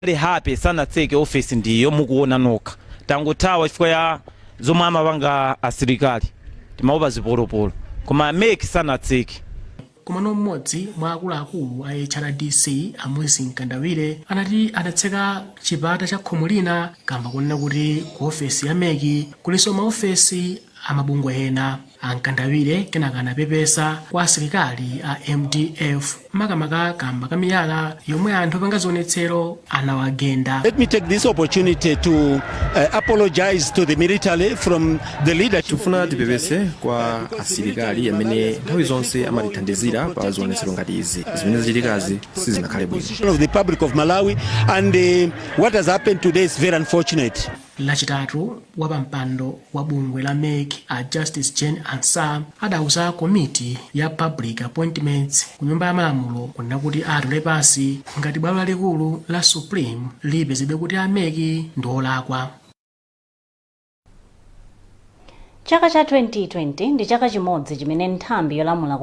A HRDC sanatseke office ndi iyo mukuona nokha. Tangothawa chifukwa cha zomwe amapanga asilikali. Timaopa zipolopolo. Koma mec sanatseke. Komano mmodzi mwa akuluakulu a HRDC a Moses Mkandawire anati adatseka chipata cha khomo lina kamba konena kuti ku ofesi ya mec kulinso maofesi a mabungwe ena. A Mkandawire kenaka anapepesa kwa asilikali a mdf makamaka kamba ka miyala yomwe anthu opanga zionetsero anawagenda. Let me take this opportunity to uh, apologize to the military from the leadership. Tikufuna tipepese kwa asilikali amene nthawi zonse amatithandizira pa zionetsero ngati izi zimene zachitikazi sizinakhale bwino. of the Republic of Malawi and uh, what has happened today is very unfortunate. Lachitatu, wapampando wa bungwe la mec a Justice Jane Ansah adauza komiti ya Public Appointments ku Nyumba ya Malamulo kunena kuti atula pansi ngati bwalo lalikulu la Supreme lipezebe kuti a mec ndi olakwa. Chaka cha 2020 ndi chaka chimodzi chimene nthambi yolamula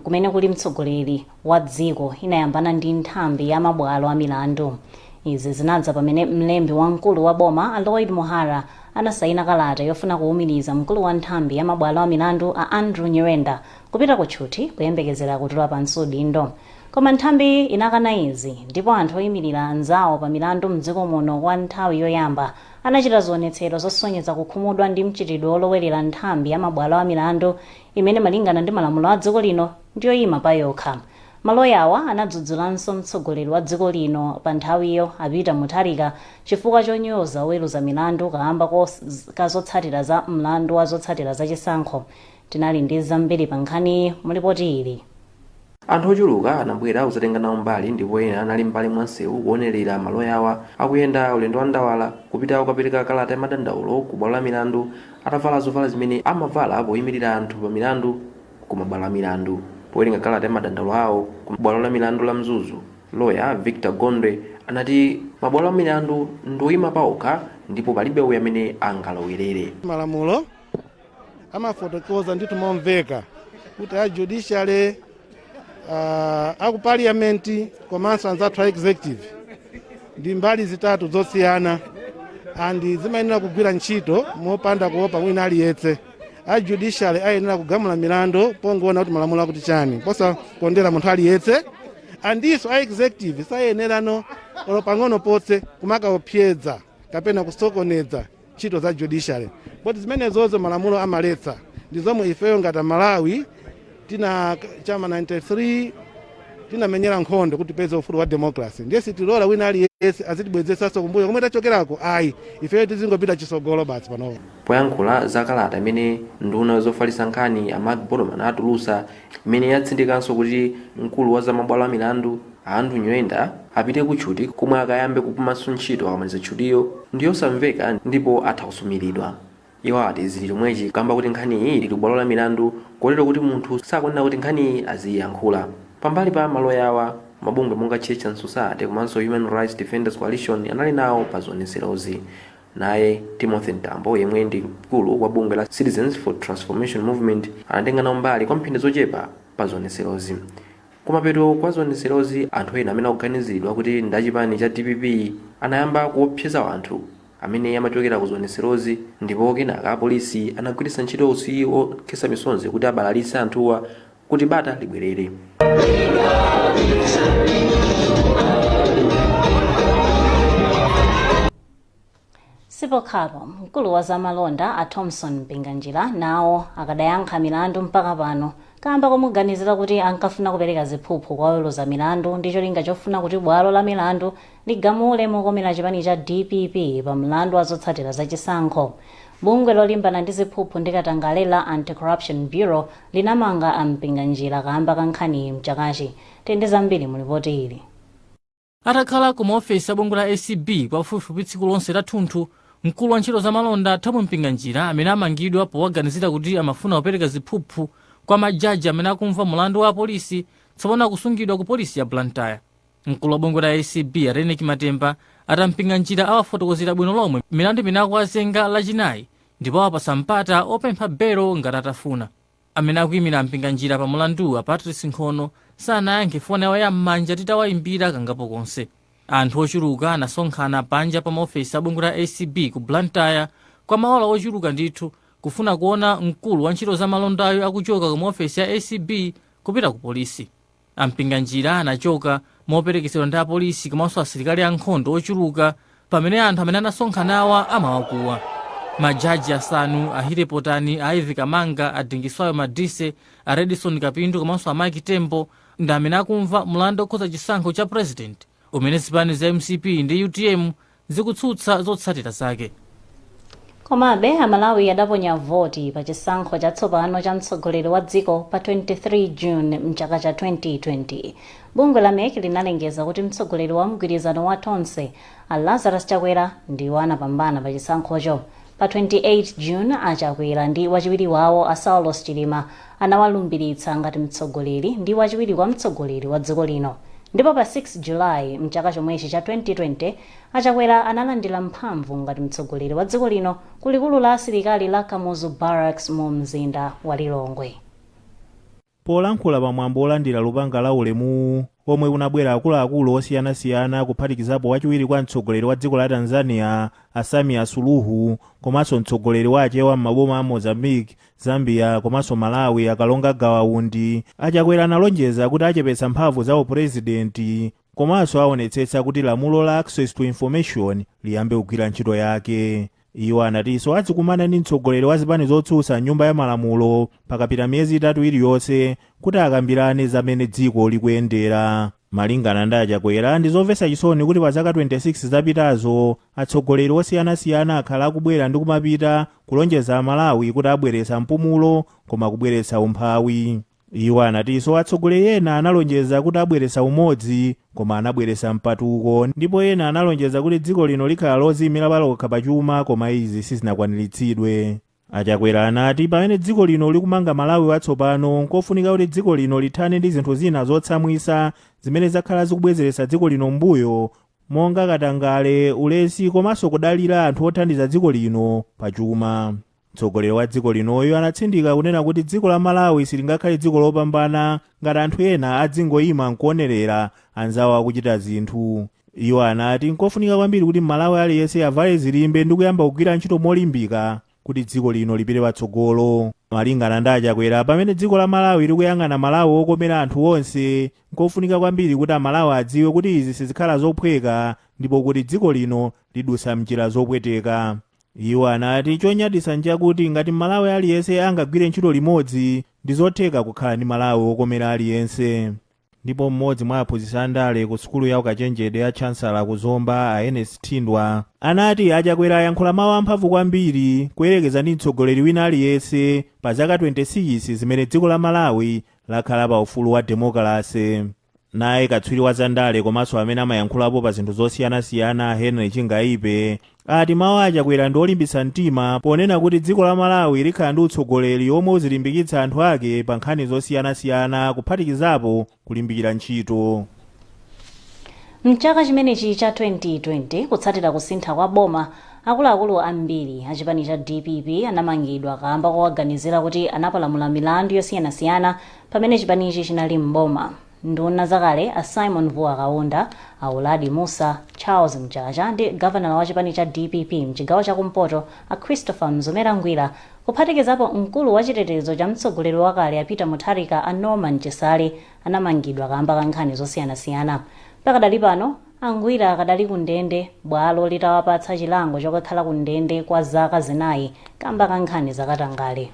kumene kuli mtsogoleri wa dziko inayambana ndi nthambi ya mabwalo a milandu. Izi zinadza pamene mlembi wamkulu wa boma a Lloyd Muhara anasayina kalata yofuna kuwumiriza mkulu wa nthambi ya mabwalo a milandu a Andrew Nyirenda kupita ku tchuthi kuyembekezera kutula pansi udindo. Koma nthambiyi inakana izi ndipo anthu oyimilira anzawo pa milandu m'dziko muno kwa nthawi yoyamba anachita zionetsero zosonyeza kukhumudwa ndi mchitidwe wolowerera nthambi ya mabwalo a milandu imene malingana ndi malamulo a dziko lino ndi yoima payokha. Maloyawa anadzudzulanso mtsogoleri wa dziko lino panthawiyo a Peter Mutharika chifukwa chonyoza oweruza milandu kaamba ka zotsatira za mlandu wa zotsatira za chisankho. Tinali ndi zambiri pankhaniyi mu lipoti ili. Anthu ochuluka anabwera kudzatenga nawo mbali ndipo ena anali m'mbali mwa msewu kuonerera maloyawa akuyenda ulendo wa ndawala kupita kukapereka kalata ya madandaulo ku bwalo la milandu atavala zovala zimene amavala poimirira anthu pa milandu ku mabwalo a milandu. Powerenga kalata ya madandaulo awo ku bwalo la milandu la Mzuzu, loya Victor Gondwe anati mabwalo a milandu ndi oima paokha ndipo palibe uyo amene angalowerere. malamulo. amafotokoza ndithu momveka kuti a judiciary uh, aku parliament komanso anzathu a executive ndi mbali zitatu zosiyana and zimayenera kugwira ntchito mopanda kuopa wina aliyetse a judiciary ayenera kugamula milandu pongoona kuti malamulo akuti chani posakondera munthu aliyetse andiso a executive sayenerano olo pang'ono potse kumakaopseza kapena kusokoneza ntchito za judiciary poti zimenezozo malamulo amaletsa ndi zomwe ifeyo ngati amalawi tina chama 93 tinamenyera nkhondo kuti tipeze ufulu wa democracy ndiye sitilola wina aliyense azitibwezesanso kumbuyo komwe tachokerako ayi ifeyo tizingopita chisogolo basi panopo poyankhula za kalata imene nduna zofalitsa nkhani a mark botomani atulusa Imene yatsindikanso kuti mkulu wa za mabwalo a milandu, a Andrew Nyirenda, apite ku tchuti komwe akayambe kupumanso ntchito akamaliza tchutiyo ndi yosamveka ndipo atha kusumilidwa. Iwo ati zili chomwechi kamba koti nkhaniyi ili ku bwalo la milandu kotero kuti munthu sakuyenera kuti nkhaniyi aziyiyankhula. Pambali pa maloyawa, mabungwe monga Church and Society komanso Human Rights Defenders Coalition anali nawo pa zionetserozi. Naye Timothy Mtambo yemwe ndi mkulu wa bungwe la Citizens for Transformation Movement anatenga nawo mbali kwa mphindi zochepa pa zionetserozi. Kumapeto kwa zionetserozi, anthu ena amene akuganiziridwa kuti ndi a chipani cha dpp anayamba kuopseza anthu amene amachokera ku zionetserozi ndipo kenaka apolisi anagwiritsa ntchito utsi wokhetsa misonzi kuti abalalitse anthuwa kuti bata libwerere. sipokhapo mkulu wa zamalonda a thomson mpinganjira nawo akadayankha milandu mpaka pano kamba komuganizira kuti ankafuna kupereka ziphuphu kwa oweruza milandu ndi cholinga chofuna kuti bwalo la milandu ligamule mokomera chipani cha dpp pa mlandu wa zotsatira za chisankho bungwe lolimbana ndi ziphuphu ndi katangale la anti-corruption bureau linamanga a mpinganjira kamba ka nkhaniyi mchakachi timve zambiri mu lipoti ili Atakhala ku maofesi a bungwe la acb kwa pafupifupi tsiku lonse lathunthu, mkulu wa ntchito za malonda Thom Mpinganjira amene amangidwa powaganizira kuti amafuna kupereka ziphuphu kwa ma jaji amene akumva mulandu wa President tsopano akusungidwa ku polisi ya Blantyre. Mkulu wa bungwe la acb a Reyneck Matemba ati a Mpinganjira awafotokozera bwino lomwe milandu imene akuwazenga Lachinayi ndipo awapatsa mpata opempha belo ngati atafuna. Amene akuimira a Mpinganjira pa mulanduwu a Patrice Nkhono sanayankhe foni yawo ya m'manja titawaimbira kangapo konse. Anthu ochuluka anasonkhana panja pa maofesi a bungwe la acb ku Blantyre kwa maola ochuluka ndithu kufuna kuona mkulu wa ntchito za malondayu akuchoka ku maofesi a acb kupita ku polisi. A Mpinganjira anachoka moperekezedwa ndi apolisi komanso asilikali a nkhondo ochuluka pamene anthu amene anasonkhanawa amawakuwa. Ma jaji asanu, a Healey Potani, a Ivy Kamanga, a Dingiswayo Madise, a Redson Kapindu komanso a Mike Tembo ndi amene akumva mlandu okhudza chisankho cha President. umene zipani za mcp ndi utm zikutsutsa zotsatira zake komabe amalawi adaponya voti pa chisankho chatsopano cha mtsogoleri wa dziko pa 23 june mchaka cha 2020 bungwe la mec linalengeza kuti mtsogoleri wa mgwirizano wa tonse a lazarus chakwera ndiwo anapambana pa chisankhocho pa 28 june a chakwera ndi wachiwiri wawo a saulos chilima anawalumbiritsa ngati mtsogoleri ndi wachiwiri kwa mtsogoleri wa dziko lino ndipo pa 6 July mchaka chomwechi cha 2020 a Chakwera analandira mphamvu ngati mtsogoleri wa dziko lino ku likulu la asilikali la Kamuzu Barracks mu mzinda wa Lilongwe. Polankhula pa mwambo olandira lupanga la ulemuwu, omwe kunabwera akuluakulu osiyanasiyana kuphatikizapo wachiwiri kwa mtsogoleri wa dziko la Tanzania a Samia Suluhu komanso mtsogoleri wa Achewa m'maboma a Mozambique, Zambia komanso Malawi a Kalonga Gawa Undi, a Chakwera analonjeza kuti achepetsa mphamvu za upulezidenti komanso aonetsetsa kuti lamulo la Access to Information liyambe kugwira ntchito yake. Iwo anatinso azikumana ndi mtsogoleri wa zipani zotsutsa m'nyumba ya malamulo pakapita miyezi itatu iliyonse kuti akambirane za mmene dziko likuyendera. Malingana ndi a Chakwera, ndi zomvetsa chisoni kuti pa zaka 26 zapitazo, atsogoleri osiyanasiyana akhala akubwera ndi kumapita kulonjeza Amalawi kuti abweretsa mpumulo koma kubweretsa umphawi. Iwo anatinso atsogoleri ena analonjeza kuti abweretsa umodzi koma anabweretsa mpatuko ndipo ena analonjeza kuti dziko lino likhala loziimira palokha pa chuma koma izi sizinakwaniritsidwe. A Chakwera anati pamene dziko lino likumanga Malawi watsopano nkofunika kuti dziko lino lithane ndi zinthu zina zotsamwitsa zimene zakhala zikubwezeretsa dziko lino m'mbuyo monga katangale, ulesi komanso kudalira anthu othandiza dziko lino pa chuma. Mtsogoleri wa dziko linoyu anatsindika kunena kuti dziko la Malawi silingakhale dziko lopambana ngati anthu ena adzingoima nkuonerera anzawo akuchita zinthu. Iwo anati nkofunika kwambiri kuti Mmalawi aliyense avale zilimbe ndi kuyamba kugwira ntchito molimbika kuti dziko lino lipite patsogolo. Malingana ndi a Chakwera, pamene dziko la Malawi likuyang'ana Malawi wokomera anthu onse, nkofunika kwambiri kuti Amalawi adziwe kuti izi sizikhala zophweka ndipo kuti dziko lino lidutsa m'njira zopweteka. Iwo anati chonyaditsa nchakuti ngati Mmalawi aliyense angagwire ntchito limodzi, ndizotheka kukhala ndi Malawi wokomera aliyense. Ndipo mmodzi mwa aphunzitsi a ndale ku sukulu ya ukachenjede ya Chancellor ku Zomba a Ernest Thindwa anati a Chakwera ayankhula mawu amphamvu kwambiri kuyerekeza ndi mtsogoleri wina aliyense pa zaka 26 zimene dziko la Malawi lakhala pa ufulu wa demokalase. Naye katswiri wa zandale komanso amene amayankhulapo pa zinthu zosiyanasiyana a Henry Chingaipe ati mawu a Chakwera ndi olimbitsa mtima ponena kuti dziko la Malawi likhala ndi utsogoleri omwe uzilimbikitsa anthu ake pa nkhani zosiyanasiyana kuphatikizapo kulimbikira ntchito. Mchaka chimenechi cha 2020 kutsatira kusintha kwa boma, akuluakulu ambiri a chipani cha dpp anamangidwa kaamba kowaganizira kuti anapalamula milandu yosiyanasiyana Pamene chipanichi chinali m'boma, nduna zakale a Simon Vuwa Kaunda, a Uladi Mussa, Charles Mchacha ndi gavanala wa chipani cha dpp m'chigawo cha kumpoto a Christopher Mzomera Ngwira kuphatikizapo mkulu wa chitetezo cha mtsogoleri wakale a Peter Mutharika a Norman Chisale anamangidwa kaamba ka nkhani zosiyanasiyana. Pakadali pano, a Ngwira akadali ku ndende bwalo litawapatsa chilango chokakhala ku ndende kwa zaka zinayi kamba ka nkhani zakatangale.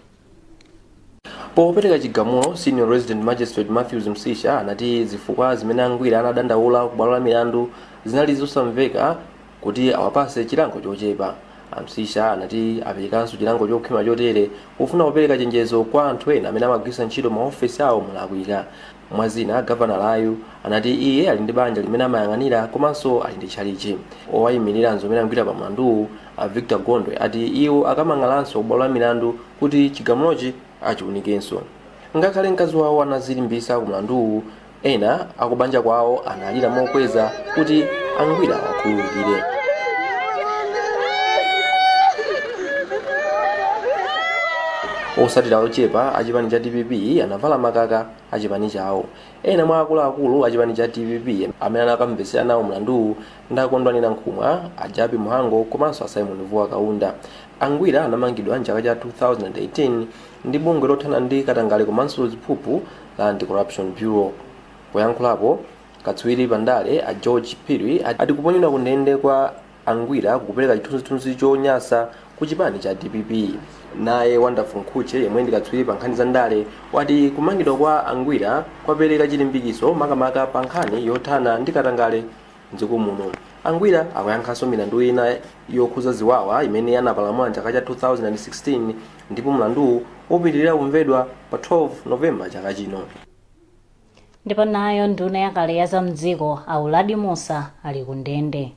Popereka chigamulo, Senior Resident Magistrate Mathews Msisha anati zifukwa zimene a Ngwira anadandaula kubwalo la milandu zinali zosamveka kuti awapase chilango chochepa. A Msisha anati aperekanso chilango chokhwima chotere pofuna kupereka chenjezo kwa anthu ena amene amagwiritsa ntchito ma ofesi awo molakwika. Mwa zina, gavanalayu anati iye ali ndi banja limene amayang'anira komanso ali ndi tchalichi. Owayimirira Mzomera Ngwira pa mlanduwu, a Victor Gondwe ati iwo akamang'alanso ku bwalo la milandu kuti chigamulochi achiunikenso. Ngakhale mkazi wawo anazilimbisa ku mlanduwu, ena akubanja kwawo analira mokweza kuti a Ngwira awakhululukire. Osatira ochepa a chipani cha dpp anavala makaka a chipani chawo. Ena mwa akuluakulu a chipani cha dpp amene anakamvetsera nawo mlanduwu ndi a Kondwani Nankhumwa, a Jappie Mhango komanso a Symon Vuwa Kaunda. A Ngwira anamangidwa m'chaka cha 2018 ndi bungwe lothana ndi katangale komanso ziphuphu la Anti-Corruption Bureau. Poyankhulapo, katswiri pa ndale a George Phiri ati kuponyedwa ku ndende kwa. A Ngwira kukupereka chithunzithunzi chonyasa ku chipani cha dpp. Naye Wonderful Mkhutche yemwe ndi katswiri pa nkhani za ndale wati kumangidwa kwa a Ngwira kwapereka chilimbikiso makamaka pa nkhani yothana ndi katangale m'dziko muno. A Ngwira akuyankhanso milandu ina yokhuza ziwawa imene anapalamula m'chaka cha 2016 ndipo mlanduwu upitilira kumvedwa pa 12 November chaka chino. ndipo nayo nduna yakale ya za mdziko a uladi musa ali ku ndende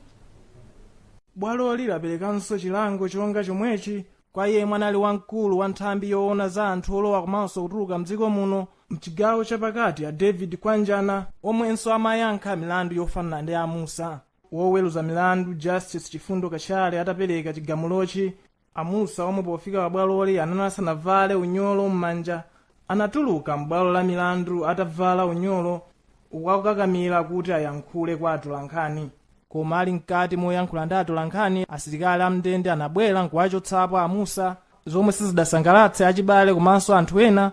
bwaloli laperekanso chilango chonga chomwechi kwa yemwe anali wamkulu wa nthambi yoona za anthu olowa komanso kutuluka mdziko muno mchigawo chapakati a david kwanjana omwenso amayankha milandu yofanana ndi a musa woweruza milandu justice chifundo kachale atapereka chigamulochi A Mussa omwe pofika pa bwaloli anali asanavale unyolo m'manja anatuluka m'bwalo la milandu atavala unyolo uku akukakamira kuti ayankhule kwa atolankhani. Koma ali mkati moyankhula ndi atolankhani, asilikali a m'ndende anabwera n'kuwachotsapo a Mussa, zomwe sizidasangalatse achibale komanso anthu ena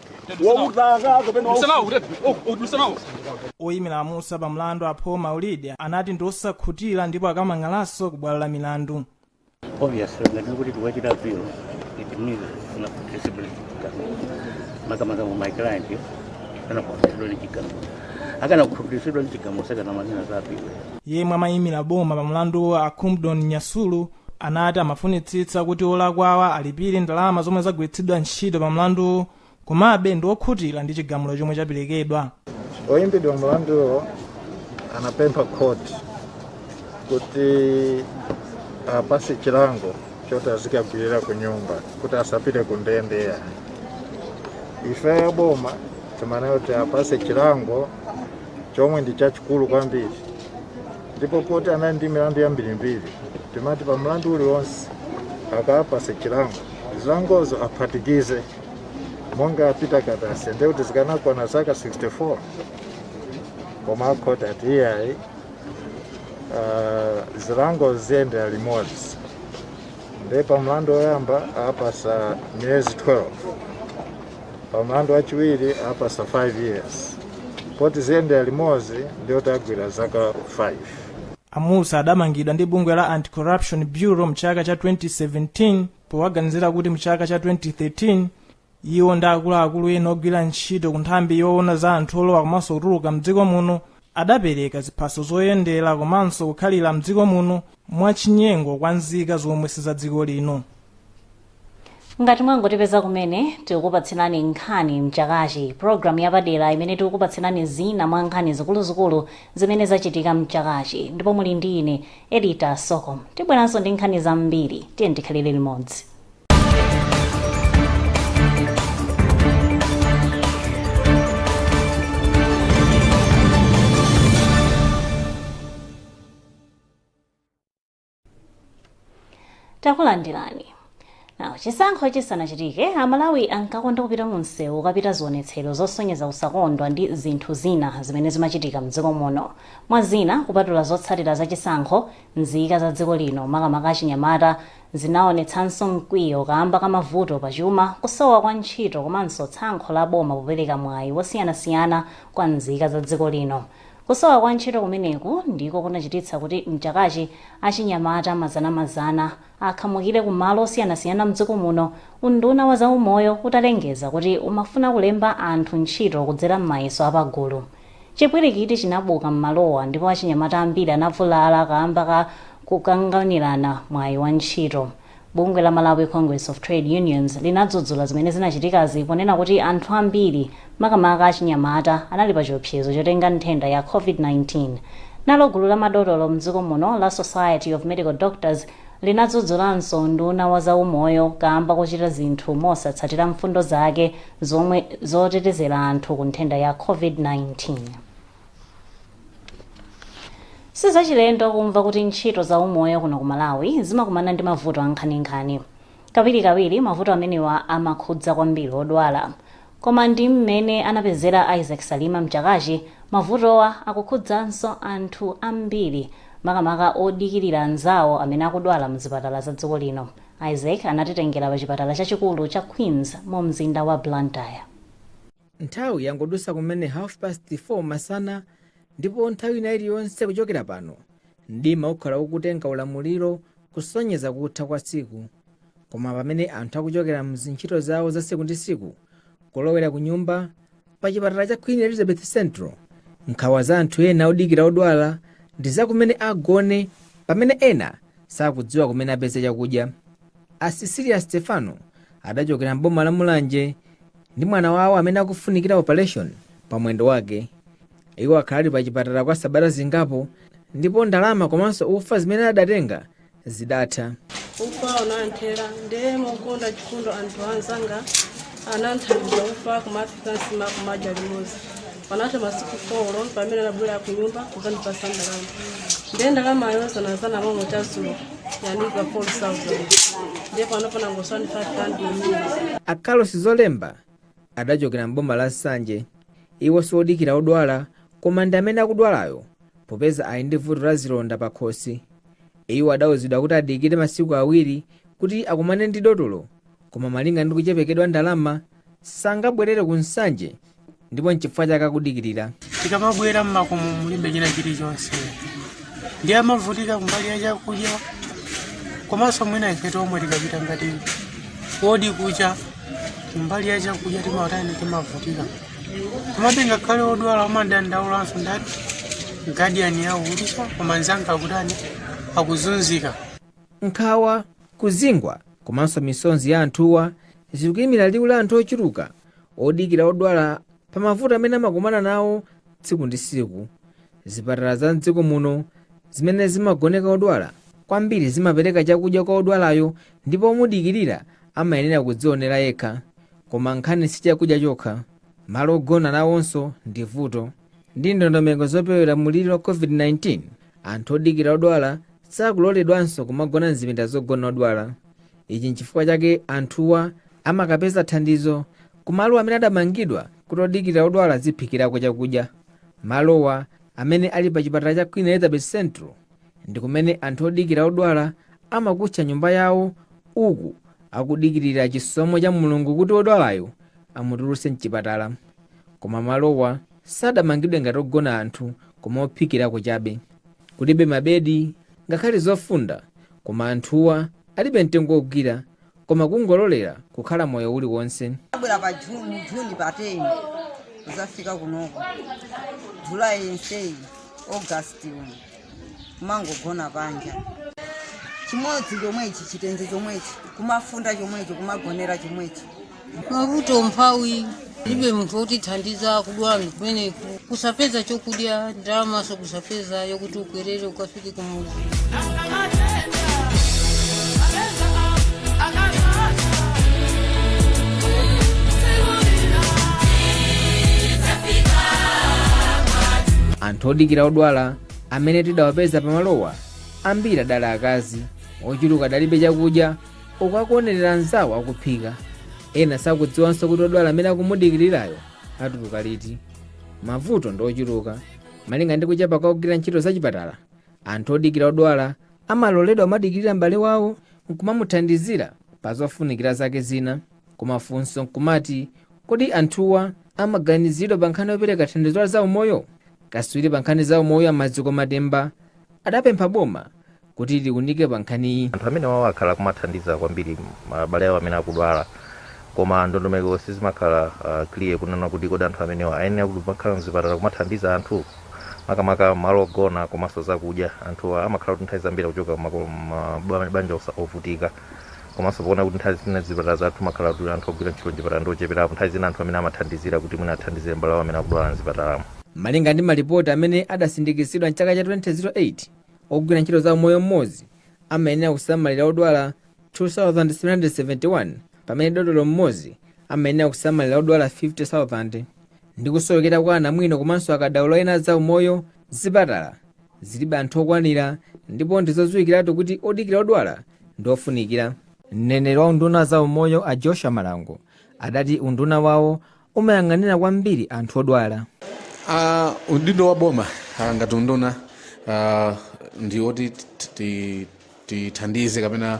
wautaka kapena wau- oyimira amusa pa mlandu a paul maulidi anati ndi osakhutira ndipo akamang'alanso ku bwalo la milandu obviously ngati ndikuti tiwachita appeal it means kuna discipline chigamulo makamaka mu my client yo sanakhutitsidwe ndi chigamulo akanakhutitsidwa ndi chigamulo sakanamanena za appeal yemwe amayimira boma pa mlanduwo a kamudoni nyasulu anati amafunitsitsa kuti olakwawa alipire ndalama zomwe zagwiritsidwa ntchito pa mlanduwu komabe ndi okhutira ndi chigamulo chomwe chaperekedwa oyimbidwa mlanduwo anapempha khoti kuti apase chilango choti azikagwirira ku nyumba kuti asapite ku ndende yayi ife yaboma timanena kuti apase chilango chomwe ndi chachikulu kwambiri ndipo poti anali ndi milandu yambirimbiri timati pa mlandu uliwonse akaapasa chilango zilangozo aphatikize monga apita katase ndiye kuti zikanakwana zaka 64 koma akhoti ati iyayi ah, zilango ziyendere limodzi ndiye pa mlandu woyamba apasa miyezi 12 pamlandu wachiwiri apasa 5 years poti ziyendera limodzi ndiye kuti agwira zaka 5 amusa adamangidwa ndi bungwe la anti-corruption bureau mchaka cha 2017 powaganizira kuti mchaka cha 2013 iwo ndi akuluakulu ena ogwira ntchito ku nthambi yoona za anthu olowa komanso kutuluka mdziko muno adapereka ziphaso zoyendera komanso kukhalira mdziko muno mwachinyengo kwa nzika zomwe si za dziko lino ngati mwangotipeza kumene tikukupatsirani nkhani mchakachi pulogalamu yapadera imene tikukupatsirani zina mwa nkhani zikuluzikulu zimene zachitika mchakachi ndipo muli ndi ine edita sokom tibweranso ndi nkhani zambiri tiyeni tikhalire limodzi takulandiraninso chisankho chisanachitike amalawi ankakonda kupita mu msewu kukachita zionetsero zosonyeza kusakondwa ndi zinthu zina zimene zimachitika mdziko muno mwa zina kupatula zotsatira za chisankho nzika za dziko lino makamaka achinyamata zinaonetsanso mkwiyo kaamba ka mavuto pa chuma kusowa kwa ntchito komanso tsankho la boma popereka mwayi wosiyanasiyana kwa nzika za dziko lino Kusowa kwa ntchito kumeneku ndiko kunachititsa kuti m'chakachi achinyamata mazanamazana akhamukire ku malo osiyanasiyana m'dziko muno, unduna wa zaumoyo utalengeza kuti umafuna kulemba anthu ntchito kudzera m'mayeso apagulu. Chipwirikiti chinabuka m'malowa ndipo achinyamata ambiri anavulala kaamba ka kukanganirana mwayi wa ntchito. Bungwe la Malawi Congress of Trade Unions linadzudzula zimene zinachitikazi ponena kuti anthu ambiri, makamaka achinyamata, anali pachiopsezo chotenga nthenda ya COVID-19. Nalo gulu la madotolo m'dziko muno la Society of Medical Doctors linadzudzulanso unduna wa zaumoyo kaamba kochita zinthu mosatsatira mfundo zake zomwe zotetezera anthu ku nthenda ya COVID-19. sizachilendo kumva kuti ntchito za umoyo kuno ku malawi zimakumana ndi mavuto ankhaninkhani kawirikawiri mavuto amenewa amakhudza kwambiri odwala koma ndi mmene anapezera isaac salima mchakachi mavutowa akukhudzanso anthu ambiri makamaka odikirira anzawo amene akudwala mzipatala za dziko lino isaac anatitengera pa chipatala chachikulu cha queens mu mzinda wa blantyre nthawi yangodusa kumene half past 4 masana ndipo nthawi ina iliyonse kuchokera pano mdima ukhala ukutenga ulamuliro kusonyeza kutha kwa tsiku koma pamene anthu akuchokera mzintchito zawo za siku ndi siku kulowera ku nyumba pa chipatala cha queen elizabeth central nkhawa za anthu ena odikira odwala ndi za kumene agone pamene ena sakudziwa kumene apeze chakudya A Cecilia Stephano adachokera m'boma la Mulanje ndi mwana wawo amene akufunikira opaleshoni pa mwendo wake. Iwo akhala ali pa chipatala kwa sabata zingapo ndipo ndalama komanso ufa zimene adatenga zidatha. ufa unanthera ndiye mokonda chifundo anthu anzanga ananthandiza ufa kumaphika nsima kumadya limodzi panatha masiku folo pamene anabwera kunyumba kuzandipasa ndalama ndiye ndalamayo zanazana momwe chazulo yanika 4000 ndiye panopo nangotsala ndi 500 a carlos zolemba adachokera m'boma la nsanje iwo siwodikira odwala koma ndi amene akudwalayo popeza ali ndi vuto la zilonda pa khosi iwo adawuzidwa kuti adikire masiku awiri kuti akumane ndi dotolo koma malinga ndi kuchepekedwa ndalama sangabwerere ku nsanje ndipo nchifukwa chake akudikirira tikamabwera mmakomo mulibe china chilichonse ndiye timavutika kumbali ya chakudya komanso mwina ife tomwe tikapita ngati wodi kucha kumbali ya chakudya timatani timavutika komabe ngakhale odwala amadandaulanso ndati gadiyani yawo kutisha koma nzanga akutani akuzunzika nkhawa kuzingwa komanso misonzi ya anthuwa zikuimira liwu la anthu ochuluka odikira odwala pa mavuto amene amakumana nawo tsiku ndi tsiku. Zipatala za m'dziko muno zimene zimagoneka odwala kwambiri zimapereka chakudya kwa odwalayo ndipo omudikirira amayenera kudzionera yekha. Koma nkhani si chakudya chokha. Malo ogona nawonso ndi vuto. Ndi ndondomeko zopewera mliri wa COVID-19, anthu odikira odwala sakuloledwanso kumagona m'zipinda zogona odwala. ichi nchifukwa chake anthuwa amakapeza thandizo kumalo amene adamangidwa kuti odikirira odwala aziphikirako chakudya malowa amene ali pa chipatala cha queen elizabeth central ndi kumene anthu odikira odwala amakutcha nyumba yawo uku akudikirira chisomo cha mulungu kuti wodwalayo amutulutse mchipatala koma malowa sadamangidwe ngati ogona anthu koma ophikirako chabe Kulibe mabedi ngakhale zofunda koma anthuwa alibe mtengo ogwira koma kungololera kukhala moyo uli wonse. Abwera pa June pa 10 kuzafika kunoko July yenseyi August uno kumangogona panja chimodzi chomwechi chitenje chomwechi kumafunda chomwechi kumagonera chomwechi mavuto umphawi kulibe munthu wotithandiza kudwala ndi kumeneku kusapeza chokudya ndalamaso kusapeza yokuti ukwerere ukafike kumuzi anthu odikira odwala amene tidawapeza pamalowa ambiri adali akazi ochuluka adalibe chakudya uku akuonerera anzawo akuphika ena sakudziwanso kuti odwala amene akumudikirirayo atuluka liti mavuto ndi ochuluka malinga ndi kuchepa kwa ogwira ntchito zachipatala anthu odikira odwala amaloledwa kumadikirira m'bale wawo nkumamuthandizira pa zofunikira zake zina koma funso nkumati kodi anthuwa amaganizidwa pa nkhani yopereka thandizo la zaumoyo kaswiri pa nkhani zaumoyo a maziko matemba adapempha boma kuti liunike pa nkhaniyi. Anthu amenewawa akhala akumathandiza kwambiri ma- abale awo amene akudwala koma ndondomeko sizimakhala uh, clear kunena kuti kodi anthu amenewa ayenera kuti makhala mzipatala kumathandiza anthu makamaka malo ogona komanso zakudya anthuwa amakhala kuti nthawi zambiri akuchoka kumako- ma- ba- banja osa- ovutika komanso poona kuti nthawi zina zipatala zathu makhala kuti anthu ogwira ntchito mchipatala ndi ocheperapo nthawi zina anthu amene amathandizira kuti mwina athandizire mbale awo amene akudwala mzipatalamo Malinga ndi malipoti amene adasindikizidwa m'chaka cha 2008, Ogwira ntchito za umoyo mmodzi amayenera kusamalira odwala 2,771 pamene dotolo mmodzi amayenera kusamalira odwala 50,000. Ndi kusowekera kwa anamwino komanso akadaulo ena a za umoyo, zipatala zilibe anthu okwanira ndipo ndi zodziwikiratu kuti odikira odwala ndi ofunikira. Mneneri wa unduna wa za umoyo a Joshua Malango adati unduna wawo umayang'anira kwambiri anthu odwala Ah, udindo wa boma ah, ngati unduna ah, ndi woti ti- ti- tithandize kapena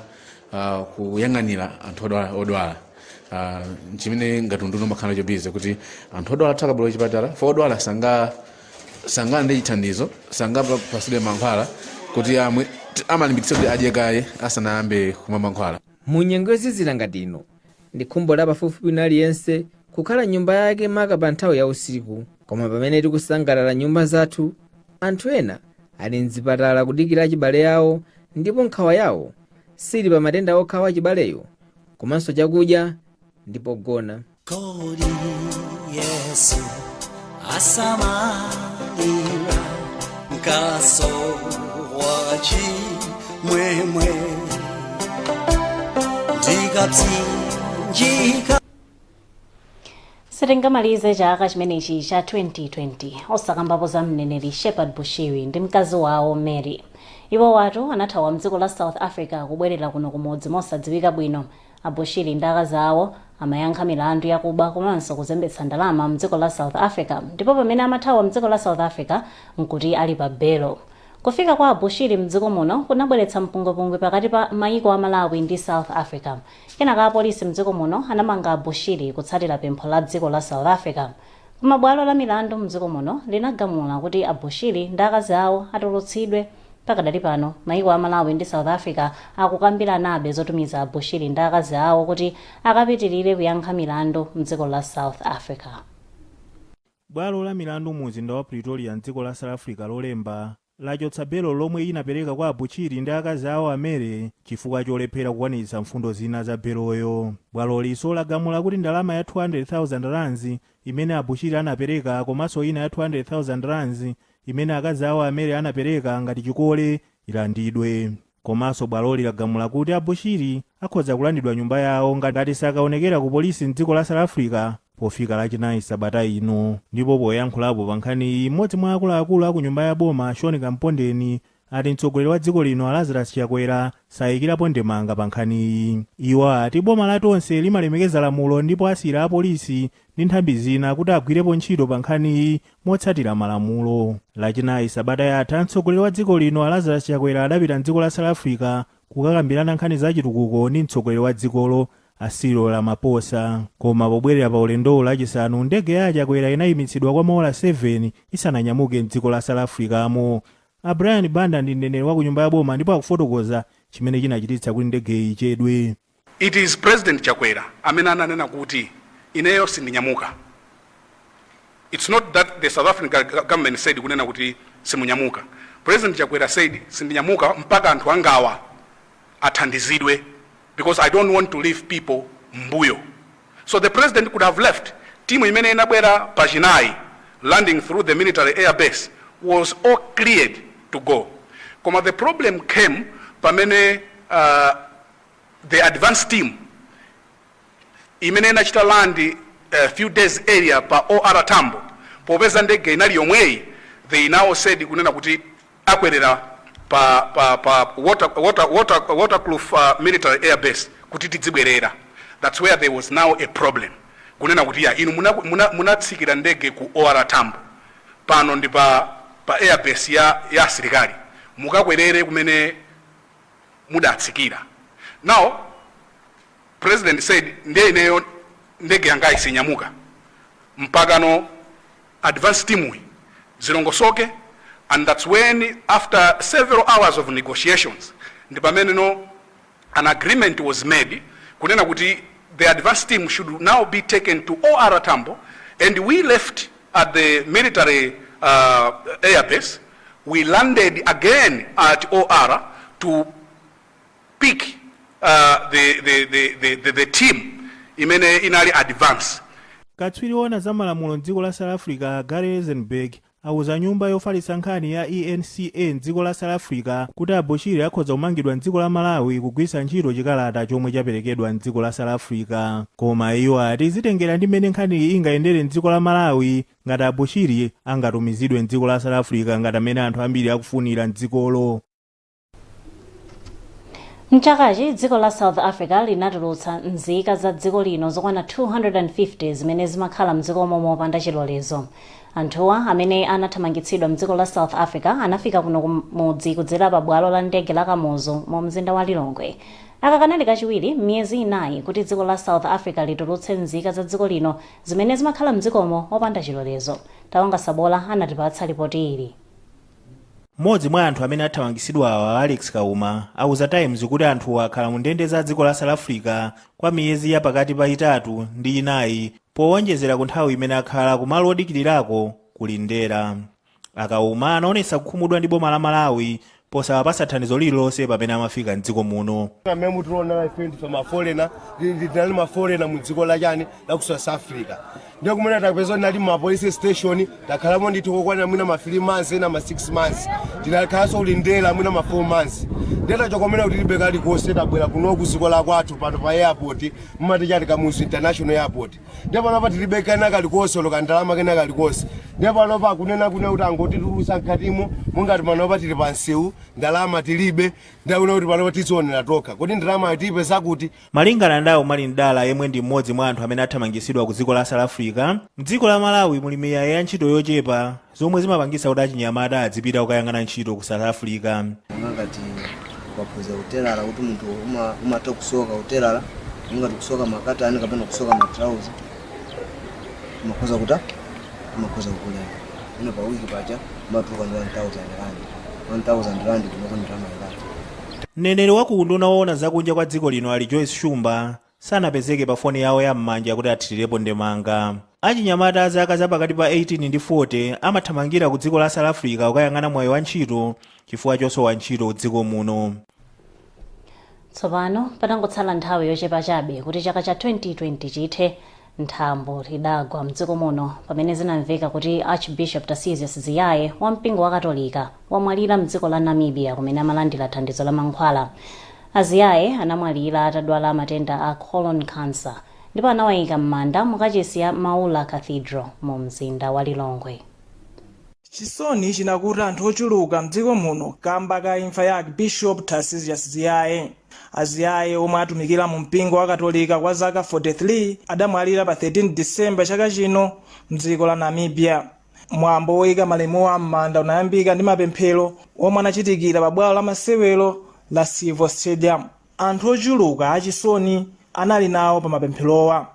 ah, kuyang'anira anthu odwala- odwala Ah, nchimene ngati unduna umakhala nacho busy kuti anthu odwala athu akabwera kuchipatala fo odwala sanga ndi chithandizo sangapatsidwe mankhwala kuti amwe amalimbikitsa kuti adye kaye asanayambe kumwa mankhwala mu nyengo yozizira ngati ino Ndi khumbo la pafupifupi wina aliyense kukhala m'nyumba yake maka pa nthawi ya usiku. Koma pamene tikusangalala m'nyumba zathu, anthu ena ali m'zipatala kudikira achibale awo ndipo nkhawa yawo sili pa matenda okha a wachibaleyo komanso chakudya ndi pogona. Kodi Yesu asamalira nkhatso wa chimwemwe ndikapsinjika sitingamalize chaka chimenechi cha 2020 osakambapo za mneneri shepherd bushiri ndi mkazi wawo mary iwowatu anathawa mdziko la south africa kubwerera kuno kumudzi mosadziwika bwino A Bushiri ndi akazi awo amayankha milandu yakuba komanso kuzembetsa ndalama mdziko la South Africa ndipo pamene amathawa mdziko la South Africa nkuti ali pa belo. Kufika kwa a Bushiri mdziko muno kunabweretsa mpungwepungwe pakati pa mayiko a Malawi ndi South Africa. Kenaka apolisi mdziko muno anamanga a Bushiri kutsatira pempho la dziko la South Africa. Koma bwalo la milandu mdziko muno linagamula kuti a Bushiri ndi akazi awo atulutsidwe. Pakadali pano, maiko a Malawi ndi South Africa akukambiranabe zotumiza a Bushiri ndi akazi awo kuti akapitirire kuyankha milandu mdziko la South Africa. Bwalo la milandu mu mzinda wa Pretoria mdziko la South Africa lolemba, lachotsa belo lomwe inapereka kwa a Bushiri ndi akazi awo a Mary chifukwa cholephera kukwaniritsa mfundo zina za beloyo. Bwalolinso lagamula kuti ndalama ya 200,000 rands imene a Bushiri anapereka komanso ina ya 200,000 rands imene akazi awo a Mary anapereka ngati chikole ilandidwe. Komanso bwaloli lagamula kuti a Bushiri akhoza kulandidwa nyumba yawo ngati sakaonekera ku polisi mdziko la South Africa pofika lachinayi sabata ino. Ndipo poyankhulapo pa nkhaniyi m'modzi mwa akuluakulu aku nyumba ya boma a Sean Kampondeni ati mtsogoleri wa dziko lino a Lazarus Chakwera saikirapo ndemanga pa nkhaniyi. Iwo ati boma la Tonse limalemekeza lamulo ndipo asiyira apolisi ndi nthambi zina kuti agwirepo ntchito pa nkhaniyi motsatira malamulo. Lachinayi sabata yatha, mtsogoleri wa dziko lino a Lazarus Chakwera adapita m'dziko la South Africa kukakambirana nkhani za chitukuko ndi mtsogoleri wa dzikolo a Cyril Ramaphosa. Koma pobwerera pa ulendowu Lachisanu, ndege ya a Chakwera inayimitsidwa kwa maola 7 isananyamuke m'dziko la South Africa-mo. A Brian Banda ndi mneneri wa ku nyumba ya boma ndipo akufotokoza chimene chinachititsa kuti ndegeyi ichedwe. It is President Chakwera amene ananena kuti ineyo sindinyamuka its not that the South African government said kunena kuti simunyamuka. President Chakwera said sindinyamuka mpaka anthu angawa athandizidwe because I don't want to leave people mbuyo. So the president could have left. Timu imene inabwera pa chinayi landing through the military air base was all cleared to go. Koma the problem came pamene uh, the advance team imene inachita land a few days earlier pa OR Tambo popeza ndege inali yomweyi they now said kunena kuti akwerera pa, pa, pa water, water, water, Waterkloof uh, military air base kuti tidzibwerera that's where there was now a problem kunena kuti ya inu munatsikira muna, muna ndege ku OR Tambo pano ndi pa, pa air base ya, ya asilikali mukakwerere kumene mudatsikira now president said ndiye ineyo ndege yangayi sinyamuka mpakana advance teamyi zilongosoke and thats when after several hours of negotiations ndi pameneno an agreement was made kunena kuti the advance team should now be taken to or tambo and we left at the military uh, airbase we landed again at OR to pick uh, the, the, the, the, the, the team imene inali advance katswiri woona za malamulo mdziko la south africa gary eisenberg auza nyumba yofalitsa nkhani ya enca mdziko la south africa kuti a bushiri akhoza kumangidwa mdziko la malawi kugwiritsa ntchito chikalata chomwe chaperekedwa mdziko la south africa koma iwo ati zitengera ndi mmene nkhaniyi ingayendere mdziko la malawi ngati a Bushiri angatumizidwe m'dziko la South Africa ngati mmene anthu ambiri akufunira m'dzikolo. M'chakachi dziko la South Africa linatulutsa nzika za dziko lino zokwana 250 zimene zimakhala m'dzikomo mopanda chilolezo. Anthuwa amene anathamangitsidwa m'dziko la South Africa anafika kuno kumudzi kudzera pa bwalo la ndege la Kamuzu mu mzinda wa Lilongwe. Aka kanali kachiwiri m'miyezi inayi kuti dziko la South Africa litulutse nzika za dziko lino Zimene zimakhala mdzikomo opanda chilolezo. Tawanga Sabola anatipatsa lipoti ili. M'modzi mwa anthu amene athamangisidwawa a Alex Kauma auza Times kuti anthuwa akhala mu ndende za dziko la South Africa kwa miyezi ya pakati pa itatu ndi inayi powonjezera ku nthawi imene akhala ku malo odikilirako ku Lindela. A Kauma anaonetsa kukhumudwa ndi boma la Malawi posawapatsa thandizo lililonse pamene amafika m'dziko muno. amene mutiona ife ndi mafolena tinali mafolena mu dziko la chani la ku south africa ndiye kumene tapeza tinali m'ma police station takhalamo ndithu kokwanira mwina ma 3 months ena ma 6 months tinakhalanso ku Lindela mwina ma 4 months ndiye tachoko mmene kuti tilibe kalikonse tabwera kuno ku dziko la kwathu pano pa airport mmati chati kamuzu international airport ndiye panopa tilibe kena kalikonse olo kandalama kena kalikonse ndiye panopa akunena kunena kuti angotitulusa mkatimo mungati panopa tili pa msewu ndalama tilibe ndiye akunena kuti panopa tizionera tokha kodi ndalama tiipeza kuti malingana ndi a Umali Mdala yemwe ndi mmodzi mwa anthu amene athamangitsidwa ku dziko la south africa mdziko la malawi muli miyayi ya ntchito yochepa zomwe zimapangitsa kuti achinyamata adzipita kukayang'ana ntchito ku south africa monga ngati ukaphunzira utelala kuti munthu uma- umatha kusoka utelala monga ngati kusoka makatani kapena kusoka matrauza umakhoza kuta umakhoza kukulipira iwe pa wiki paja umatuluka ndi 1000 rand 1000 rand kunoko ndalama ilatu mneneri wa ku unduna woona zakunja kwa dziko lino ali joyce shumba sanapezeke pa foni yawo ya m'manja kuti athirirepo ndemanga. Achinyamata a zaka za pakati pa 18 ndi 40 amathamangira ku dziko la South Africa kukayang'ana mwayi wa ntchito chifukwa chosowa ntchito m'dziko muno. Tsopano patangotsala nthawi yochepa chabe kuti chaka cha 2020 chithe, Nthambo lidagwa m'dziko muno pamene zinamveka kuti Archbishop Tarcisius Ziyaye wa mpingo wa Katolika wamwalira m'dziko la Namibia kumene amalandira thandizo la mankhwala. A Ziyaye anamwalira atadwala matenda a colon cancer ndipo anawaika m'manda mu kachisi ya Maula Cathedral mu mzinda wa Lilongwe. Chisoni chinakuta anthu ochuluka mdziko muno kamba ka imfa ya Archbishop Tarcisius Ziyaye. A Ziyaye omwe atumikira mu mpingo wa katolika kwa zaka 43 adamwalira pa 13 December chaka chino mdziko la Namibia. Mwambo woyika malemuwa m'manda unayambika ndi mapemphero omwe anachitikira pa bwalo la masewero la Civo Stadium. Anthu ochuluka achisoni anali nawo pa mapempherowa.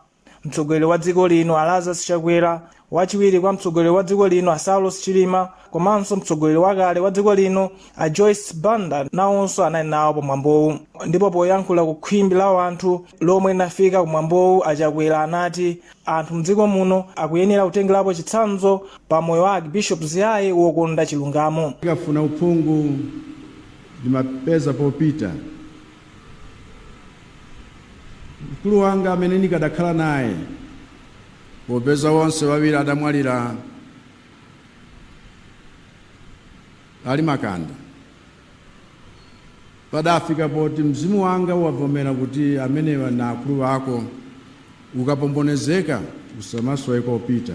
mtsogoleri wa dziko lino a lazarus chakwera wachiwiri kwa mtsogoleri wa dziko lino a saulos chilima komanso mtsogoleri wakale wa dziko lino a joyce banda nawonso anali nawo pamwambowu ndipo poyankhula ku khwimbi la wanthu lomwe linafika kumwambowu a chakwera anati anthu mdziko muno akuyenera kutengerapo chitsanzo pa moyo wa archbishop ziyaye wokonda chilungamo tikafuna uphungu ndimapeza kopita Mkulu wanga amene nikadakhala naye, popeza onse wawiri adamwalira ali makanda, padafika poti mzimu wanga wavomera kuti amenewa ndi akulu ako, ukapombonezeka usamasowe kopita.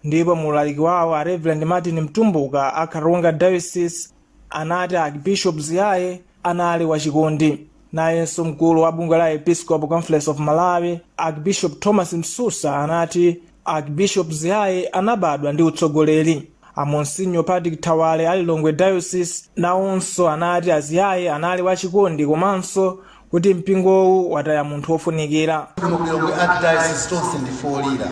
Ndipo mu ulaliki wawo a Reverend Martin Mtumbuka a Karonga Diocese, anati Archbishop Ziyaye anali wachikondi. Nayenso mkulu wa bungwe la Episcopal Conference of Malawi, Archbishop Thomas Msusa anati Archbishop Ziyaye anabadwa ndi utsogoleri. A Monsinyo Patrick Thawale a Lilongwe Diocese nawonso anati a Ziyaye anali wachikondi komanso kuti mpingowu wataya munthu wofunikira kuno ku lilongwe archdiocese tonse ndife olira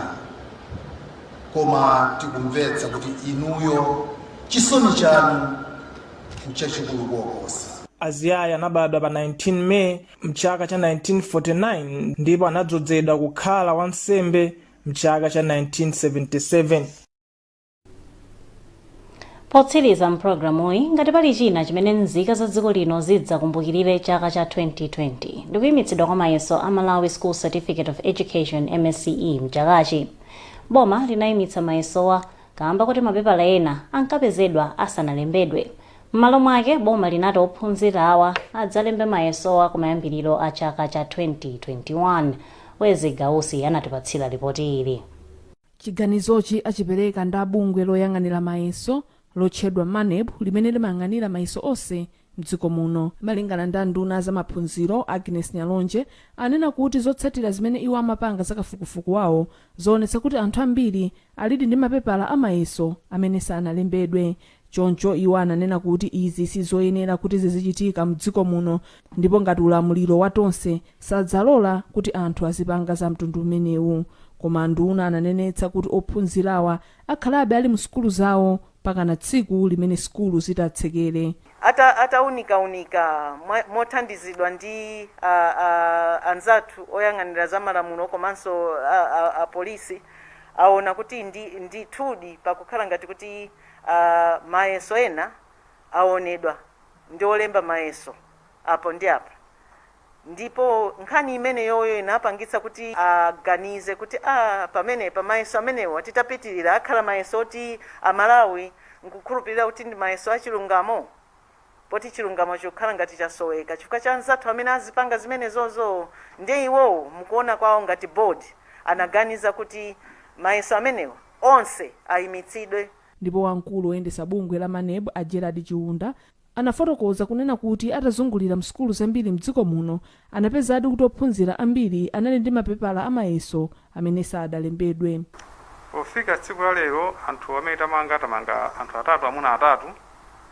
koma tikumvetsa kuti inuyo chisoni chanu nchachikulu koposa a ziyaye anabadwa pa 19 may mchaka cha 1949 ndipo anadzozedwa kukhala wansembe mchaka cha 1977 potsiriza mpulogalamuyi ngati pali china chimene nzika za dziko lino zidzakumbukirire chaka cha 2020 ndikuyimitsidwa kwa mayeso a malawi school certificate of education msce mchakachi boma linayimitsa mayesowa kaamba kuti mapepala ena ankapezedwa asanalembedwe m'malo mwake boma linati ophunzirawa adzalembe mayesowa kumayambiriro a chaka cha 2021 wezi gausi anatipatsira lipoti ili Chiganizochi achipereka ndi a bungwe loyang'anira mayeso lotchedwa Maneb limene limayang'anira mayeso onse m'dziko muno. Malingana ndi a nduna a za maphunziro, Agnes Nyalonje, anena kuti zotsatira zimene iwo amapanga za kafukufuku wawo, zaonetsa kuti anthu ambiri alidi ndi mapepala a mayeso amene sanalembedwe. Choncho iwo ananena kuti izi sizoyenera kuti zizichitika mdziko muno ndipo ngati ulamuliro wa Tonse sadzalola kuti anthu azipanga za mtundu umenewu. Koma anduna ananenetsa kuti ophunzirawa akhalabe ali mu sukulu zawo mpakana tsiku limene sukulu zitatsekere. Ata ataunika unika mwa mothandizidwa ndi a a anzathu oyang'anira za malamulo komanso a a a polisi awona kuti ndi ndithudi pakukhala ngati kuti. a Mayeso ena awonedwa ndi olemba mayeso apo ndi apa, ndipo nkhani imeneyoyo inapangitsa kuti aganize kuti, a, pamenepa mayeso amenewa titapitirira akhala mayeso oti a Malawi nkukhulupirira kuti ndi mayeso a chilungamo? Poti chilungamo chokhala ngati chasoweka chifukwa cha anzathu amene azipanga zimenezozo ndiye iwowo mukuona kwawo ngati board anaganiza kuti mayeso amenewa onse ayimitsidwe. Ndipo wamkulu woyendesa bungwe la maneb a Gerald Chiunda anafotokoza kunena kuti atazungulira msukulu zambiri mdziko muno Anapezadi kuti ophunzira ambiri anali ndi mapepala a mayeso amene sadalembedwe. Pofika tsiku la lero, anthu amene tamanga, tamanga anthu atatu, amuna atatu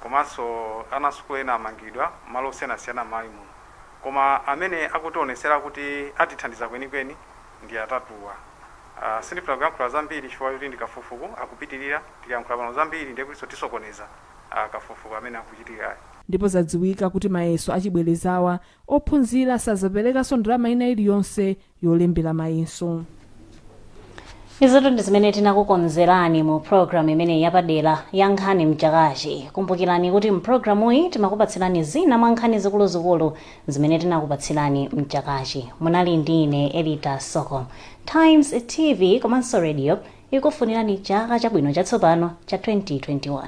komanso ana a sukulu ena amangidwa m'malo osiyanasiyana m'Malawi muno. Koma amene akutionetsera kuti atithandiza kwenikweni ndi atatuwa. Sindifuna kuyankhula zambiri chifukwa choti ndi kafukufuku, akupitirira, tikayankhula pano zambiri ndiye kutinso tisokoneza kafukufuku amene akuchitikayu. Ndipo zadziwika kuti mayeso achibwelezawa Ophunzira sazaperekanso ndalama ina iliyonse yolembera mayeso. izotu ndi zimene tinakukonzerani mu programu imeneyi yapadera ya nkhani mchakachi kumbukirani kuti mpulogalamuyi timakupatsirani zina mwa nkhani zikuluzikulu zimene tinakupatsirani mchakachi munali ndi ine elita soko times tv komanso radio ikufunirani chaka chabwino chatsopano cha 2021